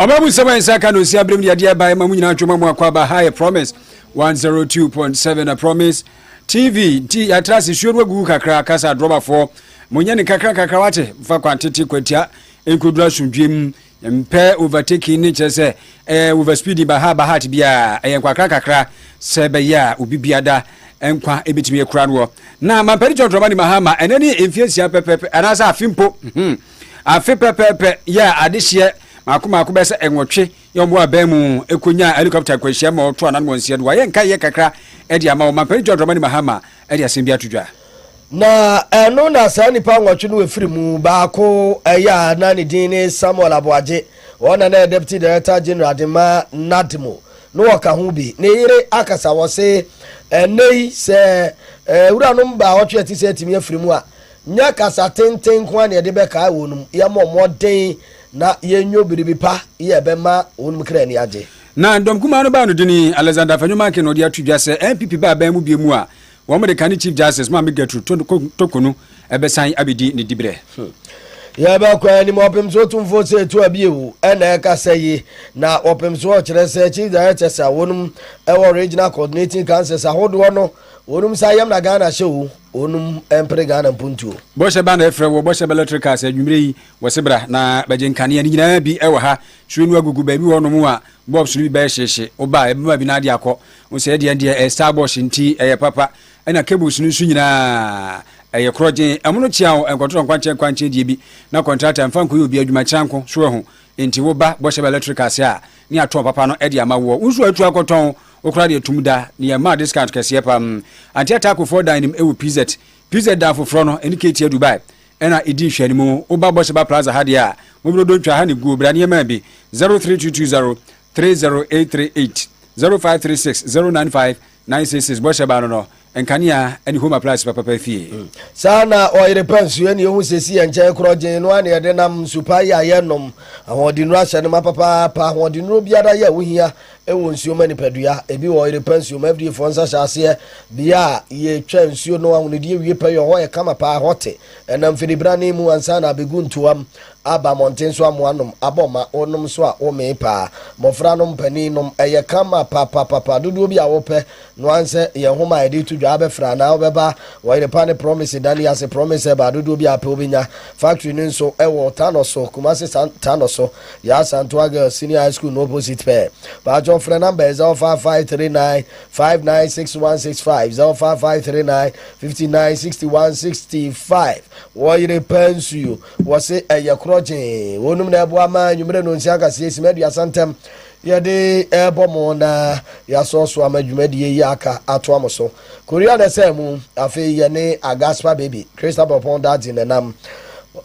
Ɔma mu nsɛm a nsa ka na osi abrem de adeɛ abae ma mu nyinaa ntwom amu akɔ aba ha yɛ promise 102.7 na promise tv nti yɛatra ase suo no agugu kakra kasa adrɔbafoɔ monyɛ ne kakra kakra wate mfa kwan tete kwatia nkɔduru asomdwem mpɛ overtaking ne kyerɛ sɛ ɛyɛ eh, overspeeding ba ha ba ha te biara ɛyɛ nkwakra kakra sɛ bɛyɛ a obi biada nkwa ɛbɛtumi akura noɔ na mampɛde kyɔntrɔma ne mahama ɛnɛ ne mfie nsia pɛpɛpɛ anaasɛ afe mpo hmm. Afe pɛpɛɛpɛ yɛ a adehyeɛ mako mako bɛyɛ sɛ nwɔtwe yɛ wɔn abɛn mu ɛkɔnyaa helicopter nkwanhyia ma wɔto anan wɔn nsia no wɔayɛ nkaeɛ kakra de ama wɔn mampanin John Dramani Mahama de asɛm bi ato dwa. Na ɛno na saa nnipa nwɔtwe no ɛfiri mu baako yɛ a na ne din ne Samuel Aboagye wɔn na na ɛyɛ Deputy Director General de ma NADMO no wɔka ho bi ne yere akasa wɔse ɛnnɛ yi sɛ wuranom baawɔtwe a ɛte sɛ atumi afiri mu a Nyɛ kasa tenten nko ara na yɛde bɛkae wɔn, yɛmmɔ mmɔden na yenwo biribi pa a ɛbɛma wɔn kra ani agye. Na dɔm kumaa no baa no dini, Alexander Afenyo-Markin na ɔde ato dwa sɛ NPP ba aban mu bio mu a, wɔde kane Chief Justice Maame Gertrude Toko no bɛsan abedi ne dibrɛ. Yɛbɛkɔ anim, Ɔpemsoɔ Tumfoɔ sɛ ɛtua bio na ɛkasa yi, na Ɔpemsoɔ kyerɛ sɛ Chief Directors a wɔnom wɔ Regional Coordinating Councils ahodoɔ no, wɔnom nsa yam na Ghana hyɛ o. Wɔnom mpere Ghana mpuntuo. Bɔhyɛ ba na ɛfrɛ wɔ Bɔhyɛ ba Electric Cars anwummerɛ yi wɔ se bra na bɛgye nkanea ne nyinaa bi wɔ ha sue no agugu baabi wɔ nom a bulbs no bi bɛyɛ hyehye wo ba a ɛbɛma bi no ade akɔ wo sɛ ɛdeɛ deɛ ɛyɛ star bɔhyɛ nti ɛyɛ papa ɛna cables no nso nyinaa ɛyɛ korɔ gyen ɛmo no kyea wo nkɔtorɔ nkwankyɛn nkwankyɛn deɛ bi na contractor mfa nkɔyɛ obi adwuma kyerɛ nko so ɛho nti wo ba Bɔhyɛ ba Electric Cars a ne atɔn papa no ɛde ama woɔ wo nso atu akɔtɔn Wokora deɛ tum da ne yɛ maa discount kɛseɛ pam Antia taco foɔ dan nim ɛwɔ PZ PZ dan foforɔ no ɛne Katie Dubai ɛna ɛdi nhwɛanimu Woba Bɔhyɛba Plaza ha deɛ a Mobro Dontwa ha ne guo bra ne yɛ maa bi 03220 30838 0536 095 966 Bɔhyɛba no no Nkanea ne home appliance papapa fie. Mm. Saa na ɔyere pɛ nso ɛne ehu sɛ si yɛn nkyɛn korɔ gyen no a na yɛde nam nsu pa yi a yɛnom ahoɔdennuro ahyɛ no ma papaapa ahoɔdennuro biara yɛ a wohia ɛwɔ nsuo ma nipadua ebi wɔ ɔyere pɛ nsuo ma FDA foɔ nsa hyɛ aseɛ bea a yɛtwa nsuo no ahonodeɛ wie pɛ yɛ hɔ yɛ kama paa hɔ te ɛnam fidibirane mu ansa na abɛgu ntoam aba mmɔnten so amoa nom abɔ ma wonom so a womee paa mmɔfra nom panin nom ɛyɛ kama papapapa dodoɔ bi a wopɛ No ara nsɛ yɛn nhoma a yɛde to dwa ara bɛfrɛ anaa wobɛba Ɔyerepa ne Promise dan yi ase Promise ɛbaa dodoɔ biara pɛ wobɛnya Factory no nso ɛwɔ Tano so Kumasi San Tano so Yaa Santoa Girls Senior High School no opposite pɛɛ Paatwɔ frɛ number yɛ 05539 596165 05539 596165 Ɔyerepa nsuo wɔse ɛyɛ korɔgyee Wɔnom na ɛboa ma anwumerɛ nonsia nkaseɛ Sima aduasa ntɛm Yɛde rebɔ mo na yɛasɔ so ama dwumadie yi aka atoa mo so. Korea na ɛsɛɛ mu. Afei yɛne Agaspa Baby, Christa Bɔpɔn Dadze na ɛnam.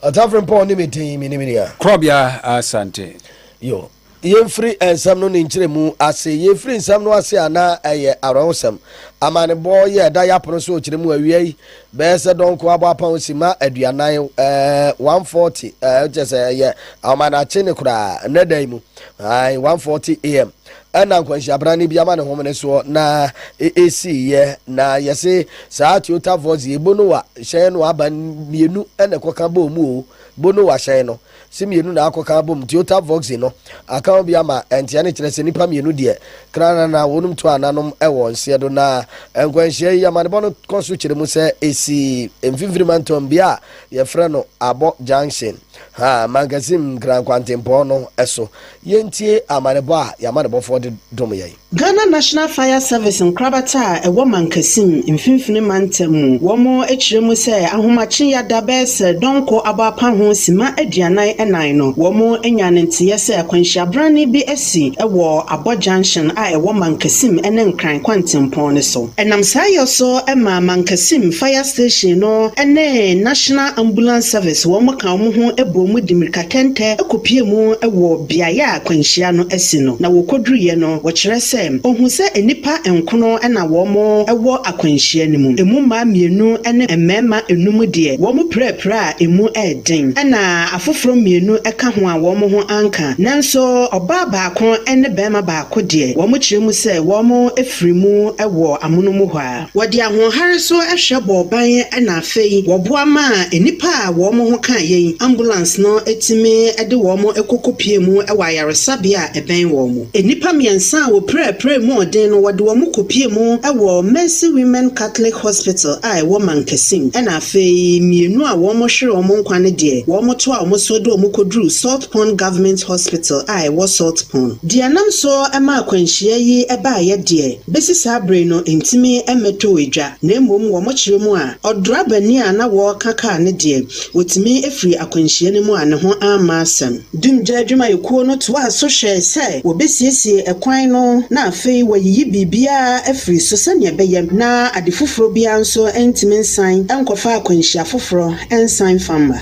Ɔtafrempɔn ne me din, me ne me nua. Korɔbea Asante. Yo. Yɛmfiri nsɛm no ne nkyerɛmu ase. Yɛfiri nsɛm no ase a na ɛyɛ awerɛhosɛm. Amanebɔ yɛ ɛda yɛapono so ɔkyerɛ mu awia yi. Bɛyɛ sɛ dɔnko aboapa ho simma aduanan, ɛɛ, one forty, ɛɛ, wokyɛ sɛ ɛyɛ ahomanakye ne koraa, nnɛ da yi mu, ae, one forty am, ɛna nkwanhyia bra ne bi ama ne homene soɔ na ɛsii yɛ, na yɛse saa Toyota Voz yi, Bonowa hyɛn no aba mmienu ɛna ɛkɔka bɔɔ mu o, Bonowa hyɛn no. se mmienu na akɔka abom nti ota voxy no aka ho bi ama ɛnteɛ no kyerɛ sɛ nnipa mmienu deɛ kranana na wɔnom tu ananom wɔ nseɛ do na nkwanhyia yi amanebɔ no kɔ so kyerɛ mu sɛ ɛsi mfimfini mantam bea a yɛfrɛ no abɔ junction ha mankasim nkran kwantempɔn no so yɛntie amanebɔ a yɛn amanebɔfoɔ de dom yɛn. Ghana National Fire Service nkorabata a ɛwɔ Mankasim, Mfinfini Mantam mu, wɔakyerɛ mu sɛ ahomakye yada bɛyɛ sɛ dɔnkɔ abɔ apa ho simma aduanan ɛnan no, wɔanya ne nteyɛ sɛ akwanhyiabrane bi asi wɔ Abɔ Junction a ɛwɔ Mankasim ne Nkran kwantempɔn no so. Ɛnam saa yɔ so ma Mankasim Fire Station no ne National Ambulance Service wɔn ka wɔn ho bɔɔ mu de mmirikatɛntɛ kɔpuee mu wɔ beaeɛ a akwanhyia no asi no, na wɔkɔduruiɛ no, wɔkyerɛ sɛ ɔhuu sɛ nnipa nkono na wɔwɔ akwanhyia no mu, ɛmu mmaa mmienu ne mmarima nnum deɛ, wɔn pirapiraa a ɛmu yɛ den, ɛnna afoforɔ mmienu ka ho a wɔn ho anka, nanso ɔbaa baako ne barima baako deɛ, wɔkyerɛ mu sɛ wɔfiri mu wɔ amonom hɔ ara. Wɔde ahoɔhare so hwɛ bɔɔ ban na afei wɔboa maa nnipa a wɔn ho ka yɛn ambulance no tumi de wɔn kɔkɔpiee mu wɔ ayaresabea a ɛbɛn wɔn mu. Nnipa mmiɛnsa a wɔpiraapiraa mu ɔden no, wɔde wɔn kɔpiee mu wɔ Mercy Women Catholic Hospital a ɛwɔ Mankasim, ɛnna afei mmienu a wɔhwere wɔn nkwa no deɛ, wɔtoaa wɔn so de wɔn kɔduruu Salt Pond Government Hospital a ɛwɔ Salt Pond. Deɛ ɛnam so maa akwanhyia yi baeɛ deɛ, Besi saa bere no entumi mmɛtɔɔ adwa, na mmom wɔ mo kyerɛ mu a, ɔdorabani a na wɔreka kaa no deɛ, wɔtumi firii akwanhyia no mu a ne ho amma asɛm. Dumgya adwumayɛkuo no toaa so hwɛe sɛ wɔbɛsiesie ɛkwan no na afei wɔayiyi biribiara afiri so sɛdeɛ ɛbɛyɛ na ade foforɔ biara nso ntumi nsan nkɔfa akwanhyia foforɔ nsan mfa mma.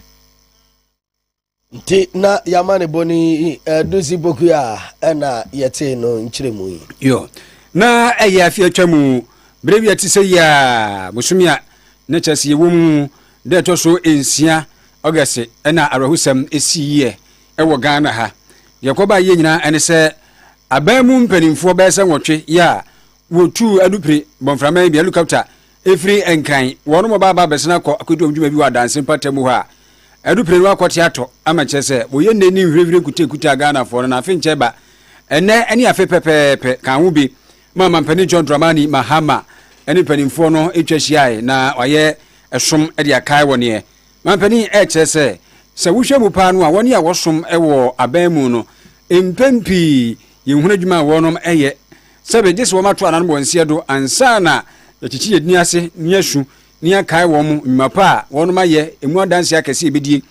Nti na y'amanebɔ no yi ɛdu si boku a ɛna yɛtee no nkyerɛmu yi. Yɔ. Na ɛyɛ afe atwa mu, bere bi a ɛte sɛ yi a, bosome a na kyerɛ sɛ yɛwɔ mu da ɛtɔ so nsia, August, ɛna awerɛhosɛm siiɛ ɛwɔ Ghana ha. Deɛ ɛkɔbaa yie nyinaa ɛne sɛ aban mu mpanimfoɔ bɛyɛ sɛ nwɔtwe yɛ a wɔtuu adupire bɔmframa yi bi, helicopter, Ɛfiri Nkran, wɔnom ɔba aba abɛsena kɔ akɔdi wɔn dwuma bi wɔ adanse mpata mu hɔ a, ɛdu prenu akɔte atɔ ama kyerɛ sɛ wɔyɛ nnɛ ni nhwirenhwiren nkutakuta a Ghanafoɔ no na afe nkyɛ ba ɛnnɛ ɛne afe pɛpɛɛpɛ ka ho bi ma Mampanin John Dramani Mahama ɛne mpanimfoɔ no ɛtwa hyiae na wayɛ ɛsom ɛde akae wɔ neɛ Mampanin ɛkyerɛ sɛ sɛ wohwɛ mu paa no a wɔne a wɔsom ɛwɔ aban mu no mpɛn pii yɛnhunu adwuma a wɔnom ɛyɛ sɛ bɛ gye sɛ wɔato anan bɔ nseɛ do ansa na yɛakyekye yɛn tini ase ne yɛn asu ne yɛn akae wɔn nnwuma pa a wɔnom ayɛ, emu adanseɛ akɛse a yɛbɛdie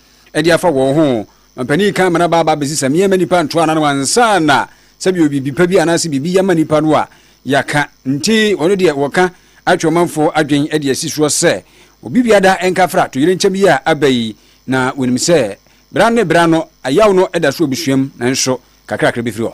de afa wɔn ho. Mampanin kan Manaba aba abɛsi sɛ meɛma nnipa nto anan ansa na sɛ bɛ wɔ biribi pa bi anaa sɛ biribi yɛ ma nnipa no a yɛaka. Nti wɔno deɛ wɔka atwe ɔmanfoɔ adwen de asi soɔ sɛ obi biada nka fra toyerɛnkyɛm yi a aba yi na wɔnim sɛ bra ne bra no ayaw no da so wɔ abusuam nanso kakra kakra bɛfiri hɔ.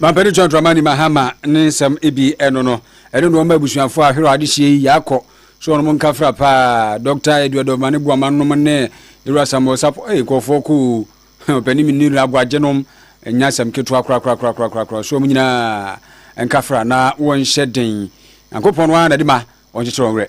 Mampani John Dramani Mahama ne nsɛm bi ɛno no ɛne noɔma abusuafoɔ a hwerɛ adehyeɛ yi yaakɔ so ɔnom nka fra paa Dɔkta Edward Omane Boamah nom ne Yewura Samuel Sarpong ei nkurɔfoɔ kɔ oo hɛ ɔpani menni no aguagye nom nyɛ asɛm ketewa korakorakorakorakorakoraa so wɔn nyinaa nka fra na wɔn hyɛ den Nyankopɔn no ara na de ma wɔn kyekyere wɔn werɛ.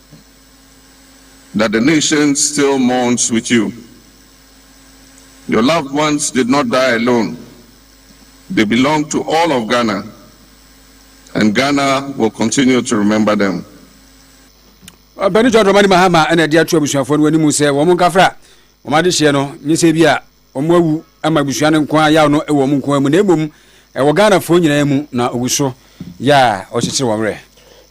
that the nation still mourns with you. Your loved ones did not die alone, they belong to all of Ghana and Ghana will continue to remember them. Ɔpɛni John Dramani Mahama ɛna ɛde ato abusuafoɔ no anim sɛ wɔn nkafra wɔn adehyeɛ no nyɛ sɛ bi a Wɔawu ma abusua no nko ara yaw no wɔ wɔn nko ara mu na mmom ɛwɔ Ghanafoɔ nyinaa mu na ogu so yɛ a ɔkyekyere wɔn werɛ.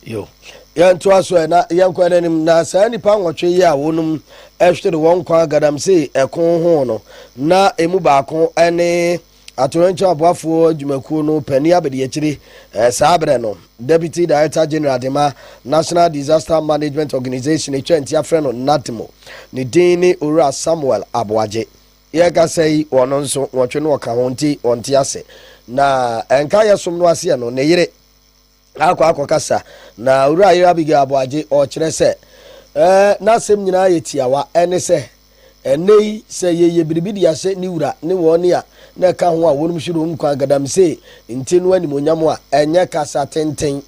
Yo. Yɛntoa so ɛ na yɛnkɔ yɛn anim. Na saa nnipa nwɔtwe yi a wɔnom hwere wɔn nkwa galamsey ɛko ho no, na ɛmu baako ne Atoyerɛnkyɛm Aboafoɔ Adwumakuo no Panin Abadiakyire saa berɛ no. Deputy Director General de ma National Disaster Management Organisation, etwa ntia frɛ no NADMO. Ne din ne Owura Samuel Aboagye. Yɛrekasa yi, ɔno nso, nwɔtwe na ɔka ho nti ɔnte ase. Na ɛnka yɛsom no aseɛ no, ne yere akɔ akɔkasa. Na Owura Yere Abigail Aboagye, ɔkyerɛ sɛ, eh, n'asɛm nyinaa yɛ tiawa, ɛne sɛ, Ɛnnɛyi sɛ yɛyɛ biribi de ahyɛ ne wura ne wɔn a na ɛka ho a wɔnom hyire wɔn nkuran galamsee nti no animuonyam a, ɛnyɛ kasa tenten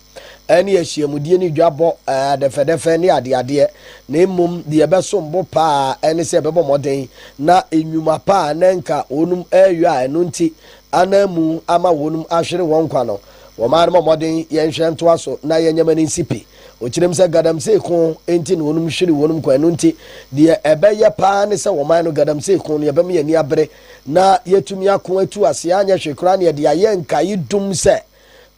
ne ahyiamudie ne dwabɔ adɛfɛdɛfɛ ne adeadeɛ na mmom deɛ ɛbɛsom bo paa ara ne sɛ yɛbɛbɔ mmɔden na nnwuma pa a na nka wɔnom reyɔ a ɛno nti ananmu ama wɔnom ahwere wɔn nkwa no wɔn ara mmɔ mmɔden yɛnhwɛ ntoa so na yɛnyɛ ma no nsi pi. Wɔkyerɛm sɛ galamsey ko nti na wɔnom hwere wɔnom kwan, ɛno nti deɛ ɛbɛyɛ paa ne sɛ wɔman no galamsey ko no yɛbɛma yɛn ani abere na yɛatumi ako atu aseɛ anyɛ hwee koraa na yɛde ayɛ nkaedum sɛ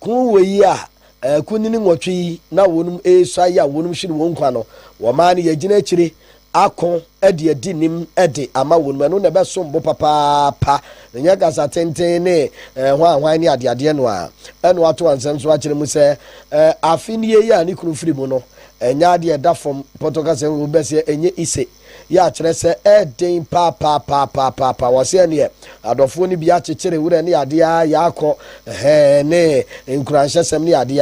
ko wei a akunini nwɔtwe yi na wɔnom ɛresuae a wɔnom hwere wɔn kwan no wɔman no yɛagyina akyire ako de adi nim de ama wɔn mu. Ɛno na ɛbɛsom bo papaapa. Ɛnyɛ kasa tenten ne eh, hwanhwan ne adeadeɛ no a. Ɛna wato ansɛm so akyerɛ mu sɛ eh, afe nie yi a ne kunu firi mu no, ɛnyɛ adeɛ ɛda fam pɔtɔ kasa mu bɛsɛ ɛnyɛ ise yɛ akyerɛ sɛ ɛden paapaapaapaapaapa wɔ sɛ neɛ adɔfoɔ no bi akyekyere werɛ ne adeɛ a yɛakɔ hɛn ne nkuranhyɛsɛm ne adeɛ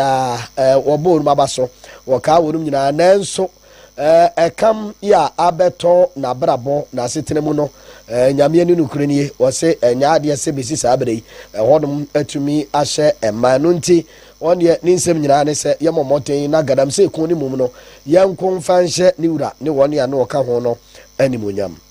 a wɔbɔɔ no aba so wɔkaa wɔnom nyinaa nanso Ɛkam yi a abɛtɔ n'abrabɔ, n'asetena mu no, Nyame ani nokorɛ nie, ɔse ɛnyɛ adeɛ sɛ bɛsi saa berɛ yi, ɛhɔnom atumi ahyɛ mma. Ɛno nti, ɔno deɛ ne nsɛm nyinaa ne sɛ yɛmmɔ mmɔden na Galamsey ko no mu no, yɛnko mfa nhyɛ ne Wura ne wɔn a na wɔka ho no animuonyam.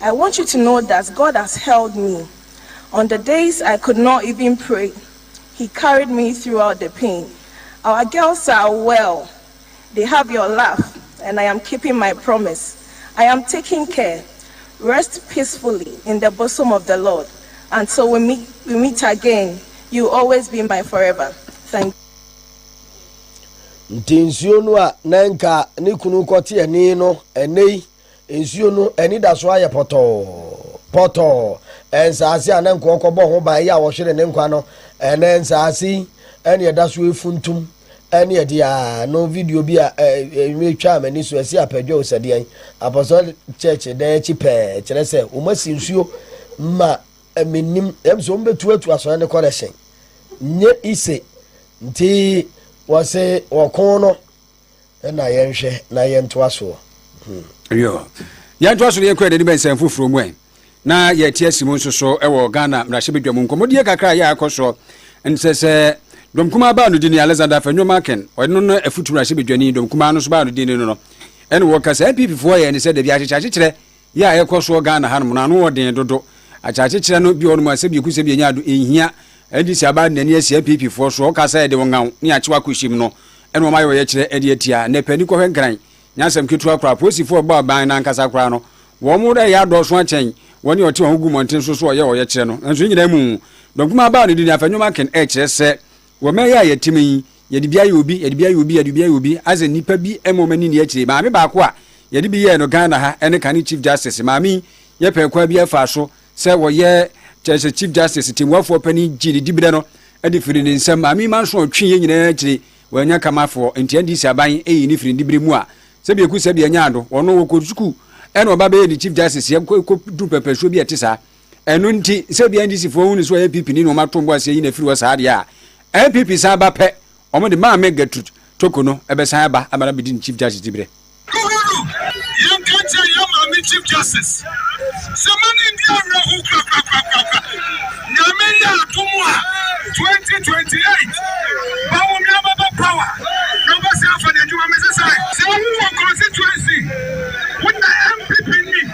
I want you to know that God has held me on the days I could not even pray he carried me throughout the pain our girls are well they have your love and I am keeping my promise I am taking care rest peacefully in the bosom of the Lord until we meet we meet again you will always be my forever thank Nti nsuo no a na nka ne kunu kɔte ani no ɛnnɛ yi Nsuo no anidasoɔ ayɛ pɔtɔɔ, pɔtɔɔ. Nsaase a na nka ɔkɔbɔ ho ban yɛ a ɔhwere ne nkwa no, ɛnɛ nsaase yi ɛne ɛda so efuntum ɛne ɛde a no video bi a ɛnwuma etwaa m'ani so ɛsi apɛdwɛw sɛdeɛn Apostolic Church dan akyi pɛɛ kyerɛ sɛ wɔn asi nsuo ma menim ɛm sɛ wɔn bɛtuatu asɔre ne kɔ dɛhyɛn nye ise nti wɔse wɔko no Ɛna yɛnhwɛ na yɛntoa soɔ. Hmm. Yo. Yɛntoa so na yɛnkɔ yɛn ani bɛ nsɛm foforɔ mu ɛ. Na yɛte asi mu nso so wɔ Ghana mmarahyɛbadwa mu nkɔmmɔdie kakra a yɛ a ɛkɔ soɔ nsɛ sɛ Dɔm kumaa baa no din yi Alexander Afenyo Akin ɔno no afutu mmarahyɛbadwani Dɔm kumaa no nso baa no din no no ɛna wɔka sɛ NPP foɔ yɛ ne sɛ dabi akyekyeakyekyerɛ Yɛ a ɛkɔ soɔ Ghana ha nom no ano wɔ den dodo. Akyakyekyerɛ no bi wɔ nom a sɛ biako sɛ bianya do ɛnhia. NDC aba de n'ani asi app foɔ soɔ. Ɔka sɛ ɛde ɔngaw ne akyew akɔhyem no ɛna wɔayɛ ɔyɛkyerɛ de atia. Nnɛ pɛ ani kɔhwɛ Nkran nyɛ asɛm ketewa koraa. Apolisifoɔ a ɛbɔ aban no ankasa koraa no wɔn reyɛ adɔɔso akyɛn wɔn a ɔte wɔn ho gu mmɔnten so so ɔyɛ ɔyɛkyerɛ no. Nanso ne nyinaa mu no, dɔm kumaa baa no din, Afenyo Makin, ɛkyerɛ sɛ, Wɔ mber yi a yɛtse mu yi, yɛdze bi ayɛ obi, yɛdze bi ayɛ obi, yɛdze bi ayɛ obi, adze nyimpa bi mma ɔma n'enyi ekyir. Maame baako a yɛdze bi yɛɛ no Ghana ha ne kan Chief Justice. Maame yi, yɛpɛ kwan biara faa so sɛ wɔyɛ, kyerɛ sɛ Chief Justice, tsembuafo ɔpanyin, gyee ne diberɛ no de firii ne nsam. Maame yi ma nso ɔtwee yɛn nyinaa ekyir, oennya Kamafoɔ, ntsi NDC aban eyii no firii ne diberɛ mu a tsebea ekusi tsebea nyaa do. Ɔno, ɔkɔr sukuu na ɔba bɛyɛɛ ne Chief Justice, yɛkɔ ekodur pɛrpɛrsuo bi a ɛtse saa. ɛno nti sɛ bia ndisifoɔ hunu so a npp ni na wɔn ato mbo aseɛ yi na firi hɔ saa deɛ a npp san ba pɛ wɔn de maame gertrude toko no ɛbɛsan aba ama na bedi ne chief justice ti berɛ Chief Justice sɛ ma ne ndi awerɛho korakorakorakora nyame yɛ atom a 2028 bawome abɛbɔ power na wobɛsɛ afa ne adwuma mese sɛ sɛ wowɔ constituency wona MPP ni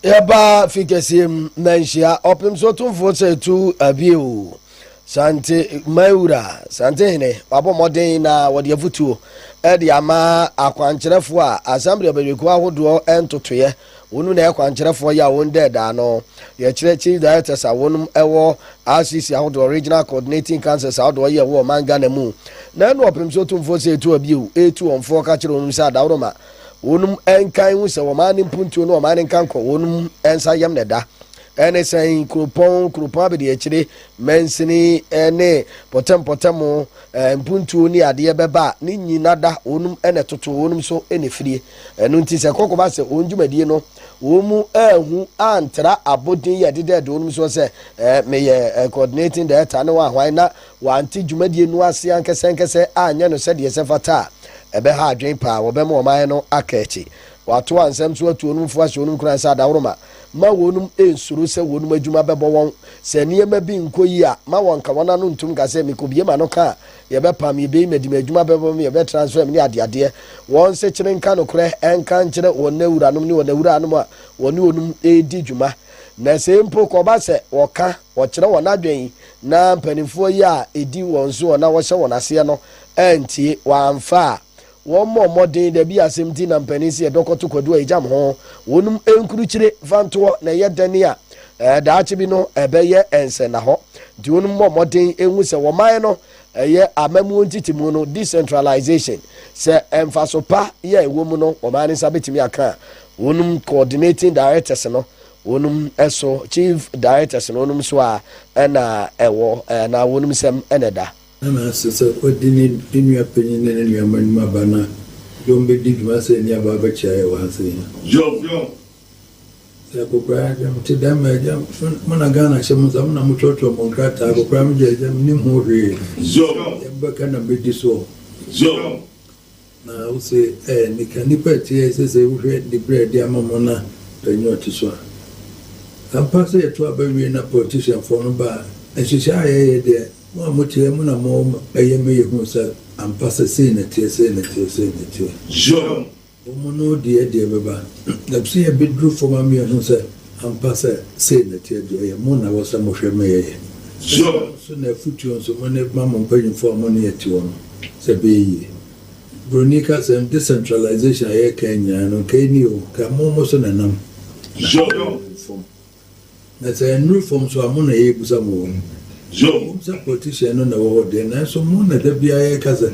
Yɛbaa fi kɛseɛ mu na nhyia ɔpem so tumfoɔ sɛ tu abie o Sante man wura Sante hene wabɔ mmɔden na wɔde afutuo ɛde ama akwankyerɛfoɔ a Assembly ɔbɛdwakuo ahodoɔ ntotoeɛ wɔnom na ɛkwankyerɛfoɔ yɛ a wɔn dɛ daa no yɛkyerɛ Chief Directors a wɔnom ɛwɔ RCC ahodoɔ Regional Coordinating Councils ahodoɔ yɛ wɔ ɔman Ghana mu na ɛno ɔpem so tumfoɔ sɛ ɛtu abie o ɛtu wɔnfoɔ ka kyerɛ wɔnom sɛ adaworoma Wɔn nka nhu sɛ wɔn ano mpuntuo ne wɔn ano nka nkɔ wɔn nsa yam na ɛda. Ɛne sɛn kuropɔn kuropɔn abadiakyire mansini ne pɔtɛmpɔtɛm mpuntuo ne adeɛ bɛba a ne nyina da wɔn na ɛtoto wɔn so na ɛfirie. Ɛno nti sɛ kɔkɔba sɛ wɔn dwumadie no wɔn mu anhu antra abɔden yi a ɛdeda adi wɔn soɔ sɛ meyɛ coordinating director ne wɔn ahwan na wɔante dwumadie no ase ankɛsɛankɛsɛ anyɛ no sɛdeɛ ɛsɛ fata a, ɛbɛha adwene paa, wɔbɛma wɔn ayɛ no akaakyi. Wɔato ansɛm so atu wɔnom fo ahyɛ wɔnom nkuran sɛ adaworoma, ma wɔnom nsuro sɛ wɔnom adwuma bɛbɔ wɔn. Sɛ nneɛma bi nkɔ yie a, ma wɔnka wɔn ano ntom nka sɛ, Mekɔbue m'ano ka a, yɛbɛpam me, yɛbɛyi me adi, m'adwuma bɛbɔ me, yɛbɛtransfer me, ne adeadeɛ. Wɔnsekyere nka nokorɛ nka nkyerɛ wɔn awuranom ne wɔn awuraanom a wɔne wɔnom redi dwuma. Na sɛ mpo kɔba sɛ wɔka, wɔkyerɛ wɔn adwene, Ná mpanimfoɔ yi a ɛdi wɔn soɔ na wɔhyɛ wɔn aseɛ no antie, wɔamfa a wɔmmɔɔ mmɔden, dabi asɛm nti na mpanin se ɛdɔ kɔto kwadu a ɛgyam ho, wɔnom nkurukyire mfantoɔ na ɛyɛ dɛne a daakye bi no ɛbɛyɛ nsɛnnahɔ, nti wɔnom mmɔ mmɔden nhu sɛ wɔman no ɛyɛ amamuo ntetemu no, decentralization, sɛ mfaso pa yɛ ɛwɔ mu no wɔman no nsa bɛtumi aka a, wɔnom coordinating directors no Wonom so, chief directors no wonom so a na ɛwɔ anaa wonom nsam na ɛda. Ana ɛsɛ sɛ ɔde ne nua panyin ne ne nua mmanom aba na dɔm bedi dwuma sɛ nnuaba abɛkyɛ ayɛ wɔ ha sei ha? Yoh! Sɛ akokoraa agya mo te dɛn ma agya mo? Mo na Ghana hyɛ mo nsa, mo na motwerɛtwerɛ mo nkrataa, akokoraa megya agya mennim ho hwee, deɛ mobɛka na mɛdi soɔ. Na wose ɛɛ nnika nnipa ɛteɛ sɛ sɛ wohwɛ dibre a ɛde ama mo na panyin a ɔte so a. Ampa sɛ yɛto aba wie na politician foɔ no ba a, nhyehyɛ a yɛyɛ deɛ mo a mote ha mu na mo ɛyɛ ma yɛhunu sɛ ampa sɛ sei na ɛteɛ sei na ɛteɛ sei na ɛteɛ. Yom. Wɔn no deɛ deɛ ɛbɛba. Ɛbsɛ yɛbɛduru fam ama yɛahunu sɛ Ampa sɛ sei na ɛteɛ deɛ, ɛyɛ mo na ɛwɔ sɛ mo hwɛ ma yɛyɛ. Ɛno nso na afutuo nso mo ne ma mo mpanyinfoɔ a mo ne yɛ te hɔ no sɛ ɛbɛyɛ yie. Broni ka sɛm, decentralization a yɛreka yi nyinaa no nka ɛnni o, nka mo mo so na ɛnam na ɛnuru fam. Na sɛ ɛnuru fam nso a, mo na yɛrebusa mo wɔ ho. Ɛwom sɛ politician no na ɛwɔ hɔ deɛ, nanso mo na da biara yɛreka sɛ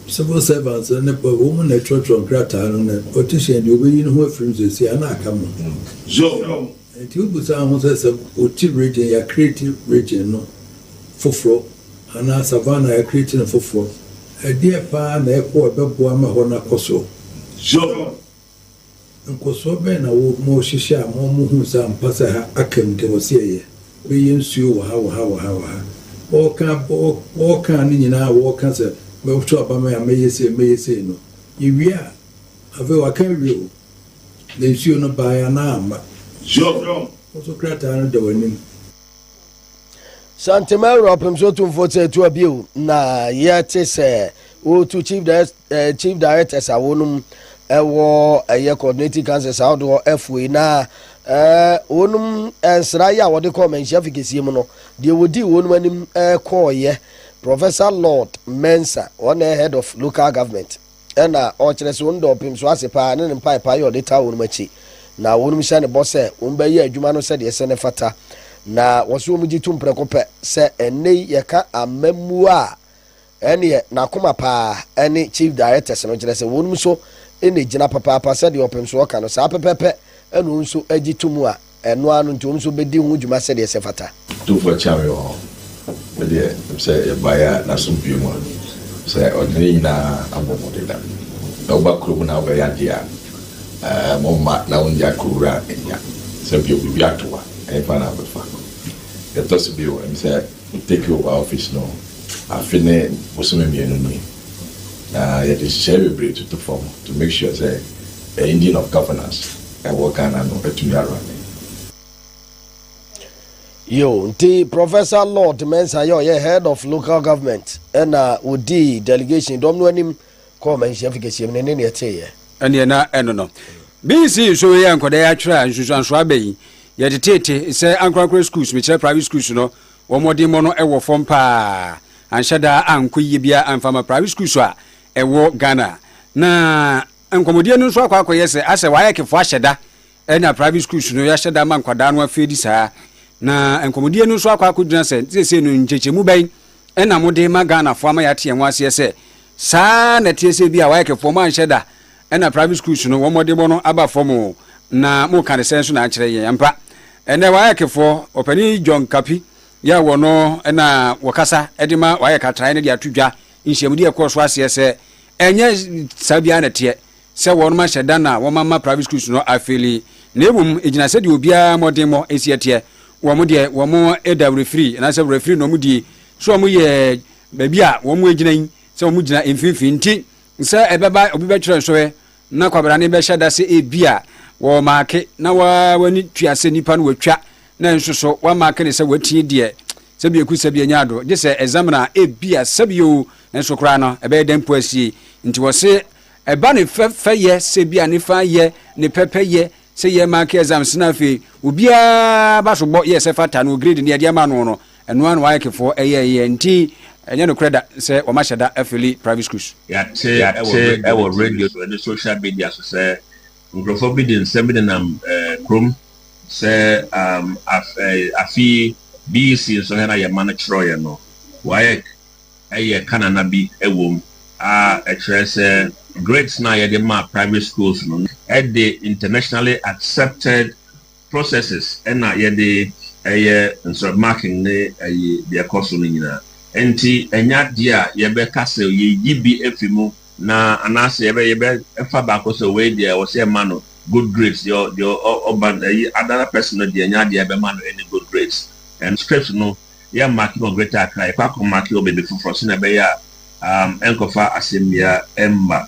Civil servants no ne Paul, wɔn na ɛtwerɛtwerɛ nkrataa no, na ɔte hyɛn deɛ ɔbɛyi ne ho afiri mu seesei a, na aka mo ho. Zoro. Enti wobisa wo ho sɛ, sɛ wote region, yɛakreeti region no foforɔ, anaa Savannah, yɛakreeti no foforɔ, ɛdeɛ paa na ɛkɔ a ɛbɛboa ma hɔ no akɔ soɔ? Zoro. Nkɔsoɔ bɛn na wo ma ɔhyehyɛ a ma ɔmo huu sɛ ampa sɛ ha aka mu deɛ ɔse ɛyɛ? Bɛyɛ nsuo wɔ ha, wɔ ha, wɔ ha, wɔ ha. Ɔɔka, ɔɔka ne nyinaa a wɔɔka sɛ mɛto aba me a mɛyɛ sei, mɛyɛ sei no, yɛwie a, afei waka awie o, na nsuo no baeɛ anaa amma? Job, wo nso krataa no da w'anim. Santima awura ɔpem so tumfoɔ sɛ ɛtu abio na yɛte sɛ wɔretu chief eh, chief directors a wɔnom ɛwɔ eh, ɛyɛ coordinating councils ahodoɔ afuei na eh, wɔnom nsra yɛ a wɔde kɔɔ manhyia fi kɛseɛ mu no deɛ wɔdii wɔnom anim kɔɔyɛ professor lord mensa wɔn head of local government Ɛnna ɔkyerɛ sɛ wɔn dɔɔpem so ase paa ne ne mpaepae a ɔde taa wɔn akyi. Na wɔnom hyɛ ne bɔ sɛ wɔbɛyɛ adwuma no sɛdeɛ ɛsɛ na ɛfata. Na wɔse wɔn gye tom prɛko pɛ sɛ ɛnnɛ yi yɛka amammuo a, ɛnneɛ n'akoma paa ne Chief Directors no, kyerɛ sɛ wɔnom nso na ɛgyina papaapa sɛdeɛ ɔpemsoɔ ka no saa pɛpɛpɛ na wɔn nso gye tom a. Ɛno ara no nti, wɔn nso bedi ho dwuma sɛdeɛ ɛsɛ fata. Otumfoɔ kyea me wɔ hɔ. Me deɛ, ɛm sɛ yɛbaeɛ a n'asomdwoeɛ mu a, ɛm sɛ ɔde ne nyinaa abɔ mo deda. Na woba kuro mu na wobɛyɛ adeɛ a, ɛɛ, mo mma na wonnya kuro wura nya. Sɛ bio, biribi ato wo a, ɛhefa na wobɛfa? Deɛ ɛtɔ so bio, ɛm sɛ me take over office no afe ne bosome mmienu nie, na yɛde nhyehyɛeɛ bebree toto fam to make sure sɛ the engine of governance, Ɛwɔ Ghana no atumi ara me. Yoo nti Professor Lord Mensah yɛ ɔyɛ Head of Local Government ɛna ɔdii delegation dɔm no anim kɔɔ Manhyia Fi Kɛseɛ mu no ne neɛ ɛteeɛ. Ɛneɛ na ɛno no. Mensii nsuo wei a nkwadaa yi atwerɛ a nsunsuansoɔ aba yi, yɛde teete sɛ ankorankora schools, mekyerɛ private schools no, wɔn mmɔdemmɔ no wɔ fam pa ara, anhyɛ da ankɔ yie biara amfa ama private schools a ɛwɔ Ghana. Na. Nkɔmmɔdie no nso akɔ akɔyɛ sɛ asɛ waec foɔ ahyɛ da na private schools no yɛahyɛ da ma nkwadaa no afeedi saa. Na nkɔmmɔdie no nso akɔ akɔgyina sɛ seesei no nkyɛkyɛmu bɛn na mode ma Ghana foɔ ama yɛate yɛn ho aseɛ sɛ saa na ɛteɛ sɛ ebia waec foɔ moanhyɛ da na private schools no wɔn mmɔdemmɔ no aba fam o na moka no sɛn so na akyerɛ yɛn ampa ɛnɛ waec foɔ ɔpanin John Kapi yɛ wɔ no na wɔkasa de ma waec atraeɛ no de ato dwa Nhyiamdi a ɛkɔɔ so aseɛ sɛ ɛnyɛ saa biara na ɛteɛ sɛ wɔnom ahyɛ da na wɔma ma private schools no afeeli na mmom ɛgyina sɛdeɛ obiara mmɔdenmɔ si ɛteɛ. Wɔn deɛ wɔn da werɛfiri anaasɛ werɛfiri na wɔn die sɛ wɔn yɛ baabi a wɔn agyina yi sɛ wɔn gyina mfimfini nti sɛ ɛbɛba obi bɛtwerɛ nsɔhwɛ na kwabrane bɛhyɛ da sɛ ebi a wɔmaake na wɔani tua sɛ nipa no watwa na nso so wɔamaake ne sɛ watie deɛ Sɛ bi aku sɛ bi anya ado gye sɛ ɛzamina a ebia sɛbi oo nanso koraa no ɛbɛyɛ dɛn mpo asie. Nti wɔse ɛba ne fɛ fɛ yɛ sɛ bi a ne fã yɛ ne pɛ pɛ yɛ sɛ yɛ maake ɛzams na afei obiaa ba so bɔ yɛ sɛ fata no grade no yɛde ama no no ɛno ara na waec foɔ ɛyɛ yɛ nti ɛnyɛ nokorɛ da sɛ wɔn ahyɛ da afili private schools. Yɛate wɔ radio so ne social media so sɛ Nkurɔfoɔ bi de nsɛm bi nenam kurom sɛ afe yi BEC nsɔhwɛ no a yɛn mma no kyerɛeɛ no, WAEC yɛ kanana bi wom a ɛkyerɛ sɛ grades no a yɛde ma private schools no de internationally accepted processes na yɛde yɛ nsɔre marking ne ayi deɛ ɛkɔ so no nyinaa. Ɛnti ɛnyɛ adeɛ a yɛbɛka sɛ yɛyi bi afi mu na anaasɛ yɛbɛ yɛbɛfa baako sɛ wei deɛ ɛwɔ sɛ yɛma no good grades deɛ deɛ ɔba ayi another person no deɛ ɛnyɛ adeɛ a yɛbɛma no any good grades. And script no yɛ marking wɔ Greater Accra yɛkɔ akɔ marking wɔ baabi foforɔ sɛnea ɛbɛyɛ a um, ɛnkɔfa asɛm biara ɛmma.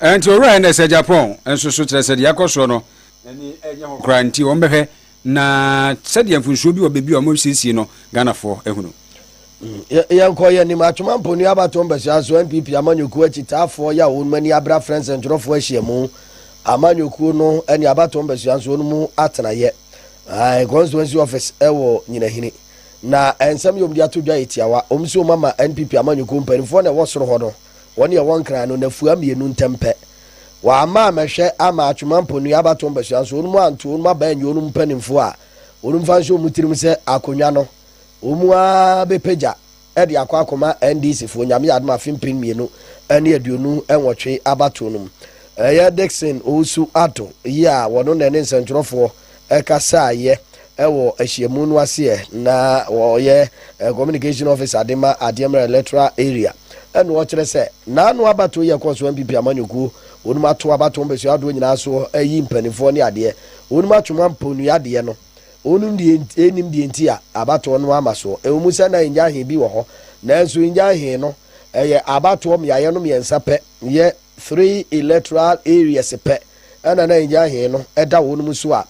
Ɛnti owura ɛnɛ sɛ Japan nso so kyerɛ sɛ deɛ ɛkɔ soɔ no ani ɛnyɛ hɔ koraa nti wɔn bɛhwɛ na sɛdeɛ mfunsuo bi wɔ baabi a wɔn siesie no Ghanafoɔ ahunu. Yɛnkɔ yɛn anim, Atwoma Mpo Nuabatoɔ Mpasua so NPP amanyɔkuo akyitaafoɔ yɛ a wɔn ani abere afrɛ nsɛntwerɛfoɔ ahyiamu. Amanyɔkuo no ne abatoɔ mpasua nso wɔn mu atenayɛ ae constituency office wɔ Nyinahini. Na nsɛm yɛ wɔn de ato dwa yɛ tiawa, wɔn se wɔn ama NPP amanyɔkuo mpaninfoɔ na ɛwɔ soro hɔ no Wɔn yɛ wɔn kra no nnafua mmienu ntɛm pɛ. Wɔamma ammɛhwɛ amma Atwema Mponui abatoɔ mpasua nso wɔnom anto wɔnom aba anyi wɔnom mpaninfoɔ a wɔnom fa nhyɛ wɔn tirim sɛ akonwa no wɔnom ara bɛpagya de akɔ akɔma NDC foɔ Nyame yɛ adom afe mpem mmienu ne aduonu nwɔtwe abatoɔ no mu. Ɛyɛ Dickson Owusu-Addo yi a wɔno na ɛne nsɛntwerɛfoɔ kasaeɛ wɔ ahyiamu no ase ɛ, na ɔyɛ communication officer de ma Adeɛ Mmerɛ Electoral Area ɛna ɔkyerɛ sɛ n'ano abatoɔ yi a ɛkɔɔ so NPP amanyɔkuo wɔnom ato abatoɔ mpɛsoa ahodoɔ nyinaa so ayi mpaninfoɔ ne adeɛ wɔnom atwe mu ampɔnua deɛ no wɔnom deɛ ɛnim deɛ nti a abatoɔ no ama so ɛwɔ mu sɛ na Ngyahee bi wɔ hɔ nanso Ngyahee no ɛyɛ abatoɔ mmeaeɛ no mmiɛnsa pɛ yɛ Three electoral areas pɛ na na Ngyan he no da hɔnom so a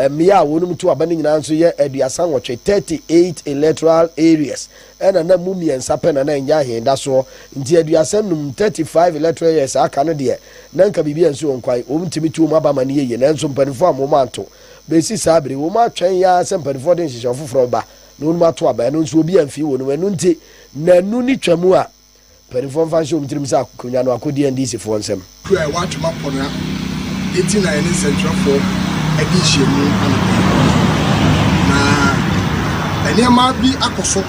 mmea a wɔnom to aba no nyinaa nso yɛ aduasa nwɔtwe, thirty eight electoral areas, na na mu mmiɛnsa pɛ na na Ngyan he da soɔ. Nti aduasa nnum, thirty five electoral areas, a aka no deɛ na nka biribi ansi wɔn kwan, wɔntumi ntu wɔn aba ma no yɛ yie. Nanso mpaninfoɔ amma wɔn anto. Besi saa bere yi wɔnom atwɛn yaa sɛ mpaninfoɔ de nhyehyɛeɛ foforɔ bɛba na wɔnom ato aba. Ɛno nso obi amfii wɔnom. Ɛno nti nnanu no twa mu a Mpanimfoɔ mfa nhyɛ wɔn tirim sɛ akonnwa no akɔdi NDCfoɔ nsam. Kuro a ɛwɔ Atwem Aponnwa nti na yɛne nsɛntwerɛfoɔ adi nhyiamu anɔpa yi. Na nneɛma bi akɔ so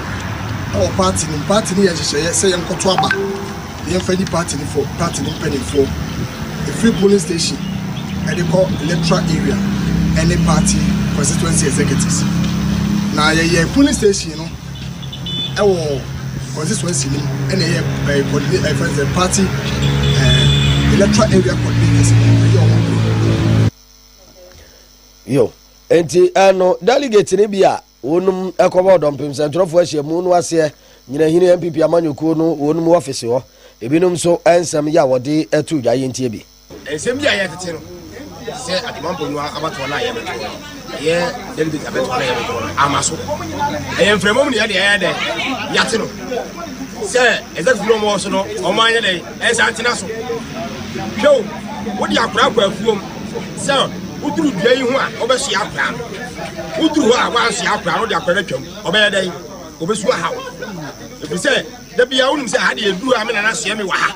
wɔ party no mu. Party no yɛ nhyehyɛeɛ sɛ yɛnkɔto aba na yɛmfa nyi party no fo, party no mpanimfoɔ. Ɛfiri polling station de kɔ electoral area ne party constituency executives. Na yɛyɛ polling station no. Ɛwɔ constituency no mu ɛna ɛyɛ ɛɛ coordinate ɛfɛ sɛ party ɛɛ electoral area coordinators ɛyɛ ɔmo kuro. Yo, nti ɛno delegate no bi a wɔnom ɛkɔbɔ ɔdɔmpem sɛntwerɛfoɔ ahyiamu no aseɛ nyinahini NPP amanyɔkuo no wɔnom wɔfese hɔ ebinom nso ɛnsɛm yɛ a wɔde ɛto dwa yɛntie bi. Nsɛm bi a ɛyɛ tete no, te sɛ Ademanfo no abatoɔ no a yɛbɛtoɔ no, ɛyɛ delegate abɛtoɔ no a yɛbɛtoɔ no, ama so. Ɛyɛ mframa mu na yɛde ɛyɛ dɛ, yɛate no. Sɛ executive no wɔn so no, wɔn anyɛ dɛ, ɛnsa ntena so. Hwɛ o, wode akora akɔ afuom sɛ woduru dua yi ho a, wobɛsoa akora no. Woduru hɔ a, woansoa akora no, wode akora no atwam. Ɔbɛyɛ dɛ, obesu ahaw. Ɛfiri sɛ, da bia wonim sɛ ha deɛ ɛduru a me nana soɛ me wɔ ha.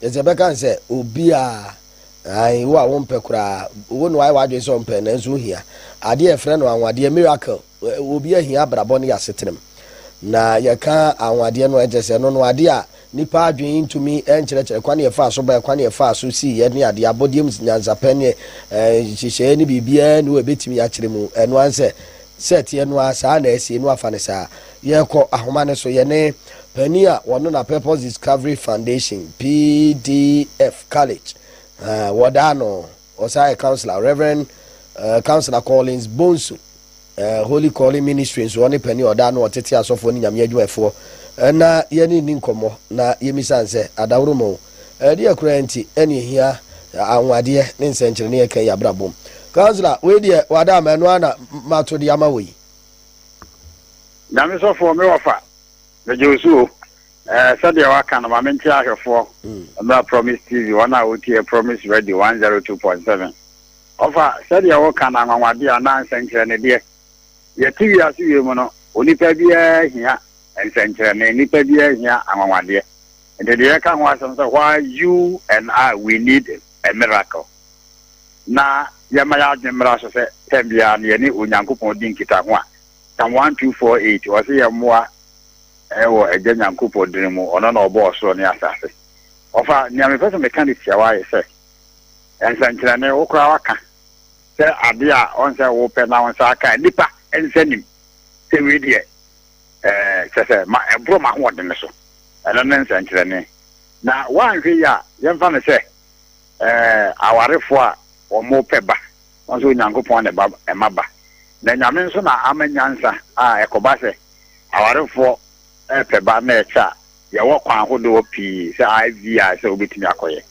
Yɛsɛ yɛbɛka no sɛ obiara, aane, wo a wompɛ koraa, wo na wayɛ w'adwene sɛ ɔmpɛ, nanso wohia, adeɛ a yɛfrɛ no anwanwadeɛ, miracle, obiara hia abrabɔ ne y'asetenam, na yɛka anwanwadeɛ no a, ɛkyerɛ sɛ ɛno no adeɛ a nnipa adwene ntumi nkyerɛkyerɛ kwan a yɛfaa so baeɛ, kwan a yɛfaa so siiɛ ne adeɛ, abɔdeɛ mu nyansapɛ ne nhyehyɛeɛ ne biribiara nni hɔ a ɛbɛtumi akyerɛ mu, ɛno ara ne sɛ, sɛ ɛteɛ no ara saa na asie, na wɔafa no saa. Yɛkɔ ahoma no so, yɛne panin a ɔno na Purpose Discovery Foundation, PDF, College, uh, wɔdaa no, ɔsan yɛ counselor, Reverend uh, Counselor Collins Bonsu, uh, Holy Calling Ministry nso ɔne panin ɔdaa no ɔtete asɔfoɔ ne nyame adwumafoɔ, na yɛne nni nkɔmmɔ na yɛmisan sɛ adaworo mu ɛdeɛ koraa nti ɛne ɛhia anwadeɛ ne nsɛnkyerɛnne ɛka yi abrabom. Counselor, wei deɛ wada ama ɛno ana mato de ama wɔ yi. Nyame sɔfoɔ me wɔfa megye wo so o ɛɛ sɛdeɛ waka no ma mente ahwɛfoɔ mm. mmra Promise TV wɔn a wotie Promise Radio 102.7 ɔfa sɛdeɛ woka no anwanwadeɛ anaa nsɛnkyerɛne deɛ yɛte wiase wie mu no onipa biara hia nsɛnkyerɛne nipa biara hia anwanwadeɛ nti deɛ yɛka ho asɛm sɛ why you and I we need a miracle na yɛma yɛn adwene mmra so sɛ tɛm biara no yɛne Onyankopɔn di nkitaho a, Psalm 1:248, ɔse yɛmmoa wɔ Agya Nyankopɔn dini mu, ɔno na ɔbɔɔ ɔsoro ne asase. Ɔfa, nea mepɛ sɛ meka no tiawa ayɛ sɛ, nsɛnkyerɛnne, wo koraa waka sɛ ade a ɔnsɛ wopɛ na wo nsa aka a nipa nsa nim sɛ wei deɛ kyɛ sɛ ma ɛboro m'ahoɔdene so, ɛno ne nsɛnkyerɛnne. Na woanhwɛ yi a, yɛmfa no sɛ, Ɛɛ, awarefo a wɔpɛ ba, wɔn nso Onyankopɔn na ɛba ɛma ba. Na Nyame nso na ama nyansa a ɛkɔba sɛ awarefo pɛ ba na ɛkyɛ a, yɛwɔ kwan hodoɔ pii sɛ IVR sɛ wobɛtumi akɔyɛ.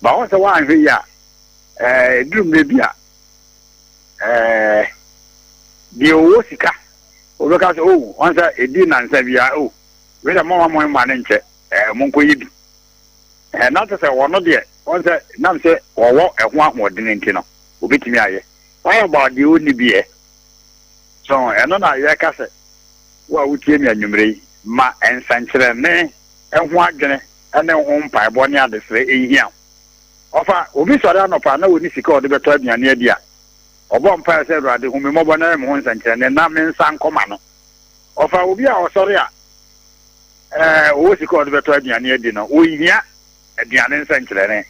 But woahu sɛ woanhwɛ yie a, ɛɛ, ɛduru mmerɛ bi a, ɛɛ, deɛ ɔwɔ sika, ɔbɛka sɛ, oh, wɔn sɛ ɛdi nnansa biara, oh, wei deɛ momma mo mma no nkyɛ, ɛɛ, monkɔyɛ bi. Ɛɛ, na kyerɛ sɛ wɔn deɛ, wɔn sɛ, nam sɛ wɔwɔ ɛho ahoɔden nti no, wɔbɛtumi ayɛ. What about deɛ ɔnni bi ɛ? So ɛno na yɛka sɛ, wo a wotie me anwummerɛ yi, ma nsɛnkyerɛnne ho adwene ne ho mpaebɔ ne adesrɛ nhia wo. Ɔfa, obi sɔre anɔpa na ɔnni sika a ɔde bɛtɔ aduane adi a, ɔbɔ mpaeɛ sɛ, Awurade, hu me mmɔbɔ na yɛ me ho nsɛnkyerɛnne na me nsa nkɔ m'ano. Ɔfa, obi a ɔsɔre a, wɔwɔ sika a wɔde bɛtɔ aduane adi no, wɔnhia aduane nsɛnkyerɛnne.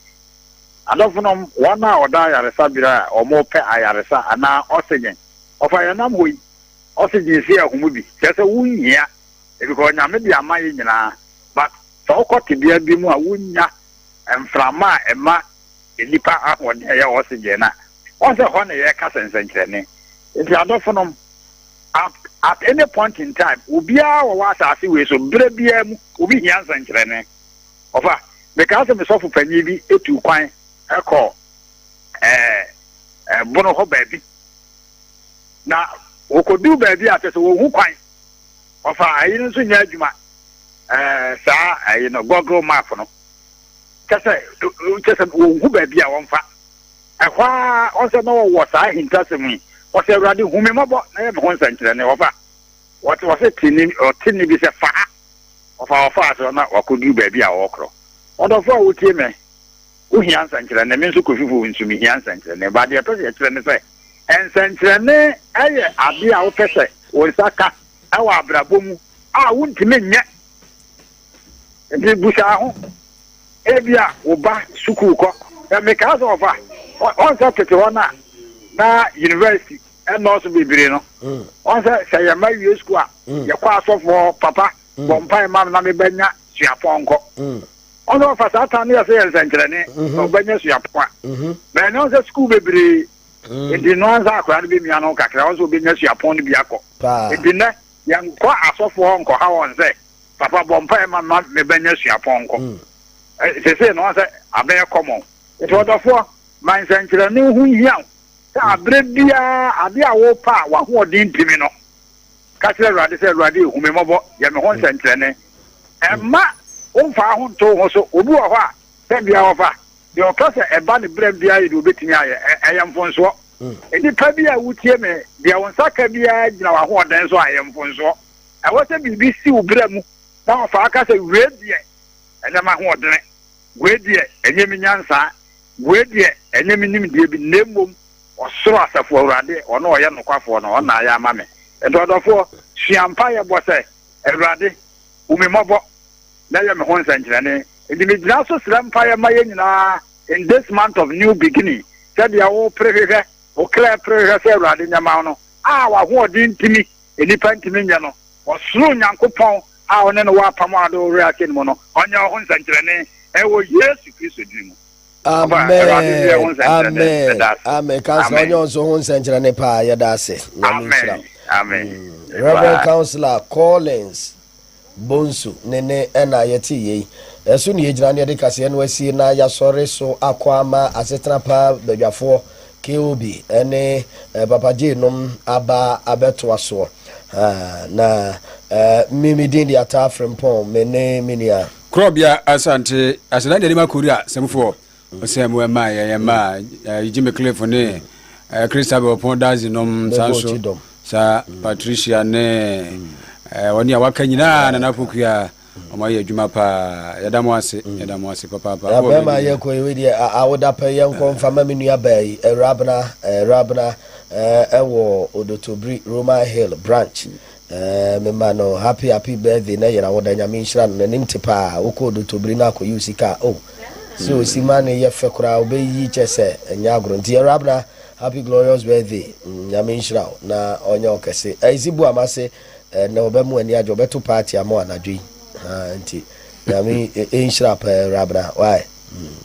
Adɔfonom, wɔn a wɔda ayaresabea a wɔpɛ ayaresa anaa ɔsegyen, wɔfa yɛn nam hɔ yi, ɔsegyen sie ahum bi, kyerɛ sɛ wonhia because Nyame de ama yɛn nyinaa, but sɛ wokɔ tebea bi mu a wonnya mframa a ɛma nnipa ahoɔden a ɛyɛ ɔsegyen no a, wɔn sɛ hɔ na yɛkasa nsɛnkyerɛnne. Nti adɔfonom, At at any point in time, obiara wɔwɔ asase wei so, berɛ biara mu, obi hia nsɛnkyerɛnne. Ɔfa, mekaa sɛ me sɔfo panin bi tuu kwan kɔɔ ɛɛ ɛbono hɔ baabi. Na wɔkɔduu baabi a kyɛ sɛ wɔhu kwan. Ɔfa, ayi no nso nyɛ adwuma, ɛɛ saa ayi no, Google map no. Kyɛ sɛ, kyɛ sɛ wɔhu baabi a wɔmfa. Ɛhɔ ara, ɔsɛ na wɔwɔ saa ahintasɛm yi, wɔsɛ, Awurade, hu me mmɔbɔ na yɛ me ho nsɛnkyerɛnne. Wɔfa, wɔte, wɔsɛ te nne, ɔte nne bi sɛ, Fa ha! Wɔfa, wɔfaa so na wɔakɔduru baabi a wɔrekorɔ. Ɔdɔfoɔ a wotie me, wohia nsɛnkyerɛnne, me nso Kofifo nso mehia nsɛnkyerɛnne. Ba, deɛ ɛtɔ sɛ yɛkyerɛ ne sɛ, nsɛnkyerɛnne yɛ adeɛ a wopɛ sɛ wo nsa ka wɔ abrabɔ mu a wontumi nyɛ. Nti busaa ho, ebia wo ba sukuu kɔ. Na mekaa sɛ ɔfa, ɔnsɛ tete hɔ na na university ɛnɔɔso bebree no. Mm. Ɔnsɛ sɛ yɛn ba wie sukuu a, mm. yɛkɔ asɔfo hɔ papa mm. bɔ mpae ma na mebɛnya suapɔnkɔ. Ɔnsɛ ɔfa saa tan no yɛ sɛ yɛ nsɛnkyerɛnne mm-hmm. na ɔbɛnya suapɔn a. Mm-hmm. Bɛn na ɔnsɛ sukuu bebree Mm. nti no ansa akora no bɛmia no kakra ɔsɛ obɛnya suapɔn no bi akɔ nti nɛ yɛnkɔ asɔfoɔ nkɔha wɔn sɛ papa bɔ mpae ma ma me ba nya suapɔnkɔ mm. eh, sese no sɛ abɛyɛ kɔmɔ nti ɔdɔfoɔ ma nsɛnkyerɛnne ho hia wo sɛ mm. aberɛ biara ade a wopa a wahoɔden ntumi no ka kyerɛ awurade sɛ awurade ɛhu me mmɔbɔ yɛ me ho mm. nsɛnkyerɛnne ɛmma womfaa ho nto ho so obi wɔ hɔ a sɛ bia wɔfa deɛ ɔka sɛ ɛba ne berɛ biara yɛ deɛ ɔbɛtumi ayɛ ɛyɛ mfonsoɔ nnipa bi a wotie me deɛ wo nsa ka biara gyina w'ahoɔden so a ɛyɛ mfonsoɔ Ɛwɔ sɛ biribi si wo bra mu na wafa aka sɛ wei deɛ ɛnyɛ m'ahoɔdene, wei deɛ ɛnyɛ me nyansa, wei deɛ ɛnyɛ me nimdeɛ bi, na mmom ɔsoro Asafo Awurade, ɔno a ɔyɛ nokwafoɔ no, ɔna ayɛ ama me. Enti ɔdɔfoɔ, sua mpaeɛ bɔ sɛ, Awurade, hu me mmɔbɔ na yɛ me ho nsɛnkyerɛnne. Enti megyina so srɛ mpaeɛ ma yɛn nyinaa in this month of new beginning, sɛdeɛ wopere hwehwɛ, wo kra pere hwehwɛ sɛ Awurade nyɛ ma wo no, a w'ahoɔden ntumi nnipa ntumi nyɛ no. Ɔsoro Nyankopɔn a ɔne no wɔ apam a ɔde wo werɛ ahyɛ no mu no, ɔnyɛ wo ho nsɛnkyerɛnne ɛwɔ Yesu Kristo din mu. Amen. Amen. Amen. Kansa ɔnyɛ wɔn so ho nsɛnkyerɛnne paa yɛda ase. Nyame nhyira. Mm. Reverend Councillor Collins. Bonsu, ne ne ɛna yɛtee yei. Ɛso na yɛgyina na yɛde kaseɛ no asie na yɛasɔre so akɔ ama asetena pa badwafoɔ KOB ne Papa Jay nom aba abɛtoa soɔ. Na me me din de Ataa Frimpong, me ne me nua. Korɔbea Asante, Asena Nyanim Akori a semfoɔ. Ɔsɛ mu ɛma yɛ yɛ ma Jimmy Cliff ne Christabel Pon Dazi nom san so sa Patricia ne wɔne a waka nyinaa Nana Pokua ɔmo ayɛ adwuma paa yɛda mo ase yɛda mo ase papaapa. Na bɛrima ayɛ kɔ yi deɛ awoda pɛ yɛn kɔ nfa ma me nua baa yi Rabna Rabna ɛwɔ Odotobiri Roman Hill branch Eeh me ma no happy happy birthday na yera wo da nyame nhyira no nanim te paa wokɔɔ dotobiri na akɔ yi wo sika a oh sɛ osi ma no yɛ fɛ koraa obɛyi kyɛ sɛ ɛnyɛ agorɔ nti awurabena happy glorious birthday mm nyame nhyira wo na ɔnyɛ wo kɛse ɛzi bu ama se ɛnɛ ɔbɛ mu ani agye ɔbɛto party ama wo anadwo yi haa nti nyame nhyira paa awurabena why mm.